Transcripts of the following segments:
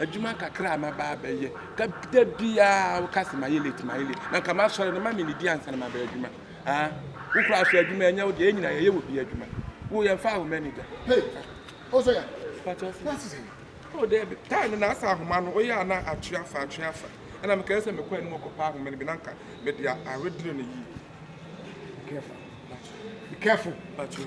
Adwuma kakra a maba abɛyɛ, ka da biara woka sɛ mayɛ late mayɛ late na nka masɔre no ma me nidi ansa na maba adwuma ah wo kura so adwuma ɛnyɛ wo deɛ yɛn nyinaa yɛyɛ wɔ bi adwuma wo yɛn fa wo manager hey o sɛ yɛ pàtó ɔsɛ. Oh daabi, time no na asɛ ahoma no woyɛ a na atwe afa atwe afa. Ɛna mekae sɛ mekɔ anim kɔpɛ ahoma no bi na nka mede awedere no yie. Be careful. Be careful. Patrol.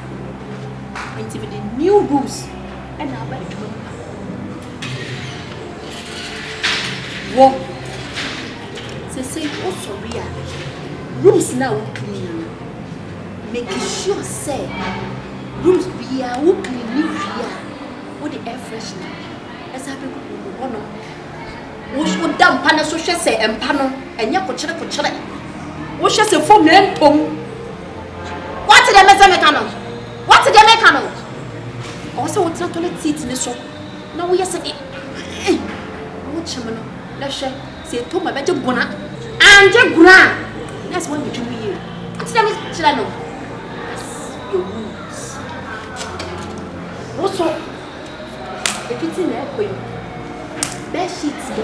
Nti mede new rules ɛna aba adwuma mu ha. Wɔ sese wosɔre a rules na a wokiri yi no make sure sɛ rules biara wokiri ne wie a wode air freshener ɛsan bɛgugu mu hɔnom. Woda mpa no so hwɛ sɛ mpa no ɛnyɛ kokyere kokyere. Wohwɛ sɛ foam ɛntɔ mu. Wate deɛ mese meka no? Wate deɛ meka no? Ɔwɔ sɛ wotena toilet seat ne so na woyɛ sɛ de na wokyem no na hwɛ sɛ ɛtɔ mu a ɛbɛgye gona. Angye gona a, na ɛsɛ woanwitwi mu yie. Wote deɛ mekyerɛ no? That's your rules. Wo so, ɛfiti na ɛkɔ yi, bed sheet no.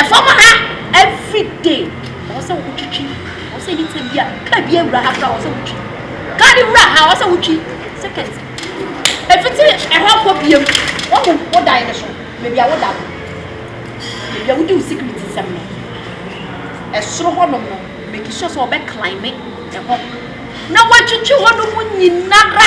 Ɛfam ha everyday ɔwɔ sɛ wotwitwi ɔwɔ sɛ nipa bi a car bi awura ha kora ɔwɔ sɛ wotwi car bi wura ha ɔwɔ sɛ wotwi second efiti ɛhɔ kɔ biem wɔn mu wodan no so beebi a woda no beebi a wodi wo security nsɛm no ɛsoro hɔ nom no make sure sɛ ɔbɛ climb ɛhɔ na watwitwi hɔ nom nyinara.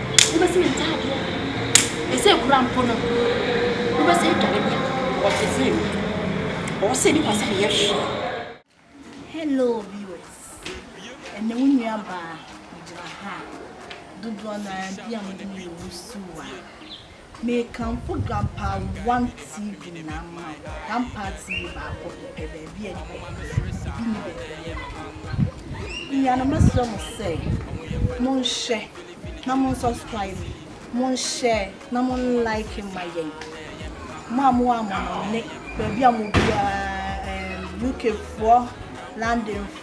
wobɛsi ne ntaadeɛ ɛsɛ ekura mpo no wobɛsi edware bi a ɔte sɛ mi ɔwɔ sɛ nipa sɛ meyɛ hwɛ. Hello viewers ɛnɛ wo nua baa megyina ha dodoɔ naa bi a mo de me yɛ wusu wa Mekamfo Grandpa One TV nyinaa mma wo, Grandpa TV baako pɛ, pɛ baabi a nnipa bi wɔ, ebi nni baabi a nnipa bi wɔ. Anuanom mɛsrɛ mo sɛ, monhwɛ na mo subscribe, monhyɛ na mo like ma yɛn. Mo a mowɔ amɔnɔne, baabi a mo biara, UK foɔ, London foɔ,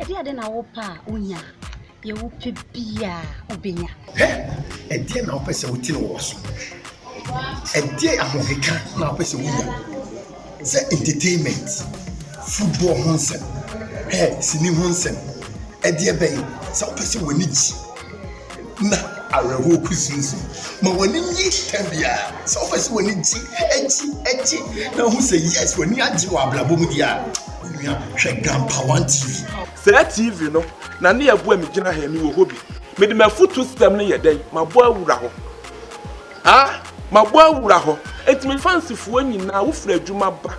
Ɛdeɛn de na wopɛ a wonya? Deɛ wopɛ biara wobɛnya. Hɛ! Ɛdeɛn na wopɛ sɛ wote no wɔ w'aso? Ɛdeɛn ahokeka na wopɛ sɛ wonya? Sɛ entertainment, football ho nsɛm, hɛ, sini ho nsɛm, ɛdeɛ bɛn? Sɛ wopɛ sɛ w'ani gye. na awerɛhoɔ kusinsin. Ma w'ani nye tɛm biara. Sɛ wopɛ sɛ w'ani gye, gye, gye na wohu sɛ yes w'ani agye wɔ abrabɔ mu deɛ a, onua hwɛ Grampa One TV. Saa TV no na ne ɛboa me gyina ha yi, mewɔ hɔ bi. Mede m'afutuo system no yɛ dɛn? Mabɔ awura hɔ. Ah! Mabɔ awura hɔ. Enti me fansifoɔ nyinaa, wofiri adwuma ba,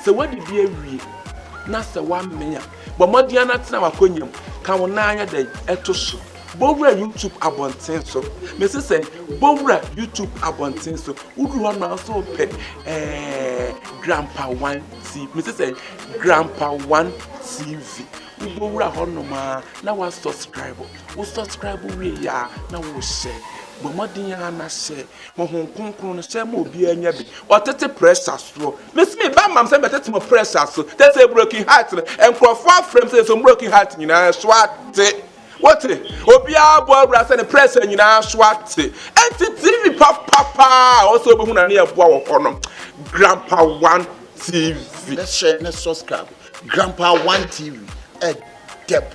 sɛ woadidi awie na sɛ woamee a, bɔ mmɔden ara na tena w'akonnwa mu, ka wo nan ayɛ dɛn? To so. Bɔwura YouTube abɔnten so. Mese sɛ bɔwura YouTube abɔnten so. Woduru hɔ na nso pɛ ɛɛ Grandpa One TV. Mese sɛ Grandpa One TV. Wobɛwura hɔ nom a na wa subscribe. Wo subscribe wie yɛ a na wo hyɛ. Bɔ mmɔden a na hyɛ. Honhom kronkron no hyɛ ma obiara nya bi. Ɔtete pressure soɔ. Mese me ba mam sɛ mɛtete mo pressure so. Tete broken heart no nkurɔfoɔ afrɛ m sɛ nso broken heart nyinaa so ate. Wote? Obiara bɔ awura sɛ ne prɛsɛ nyinaa so ate. Enti TV papa paa a ɔsɛ obehu na ne yɛ boa wɔ hɔ no. Grandpa One TV. Bɛhyɛ ne subscribe. Grandpa One TV. Ɛdɛ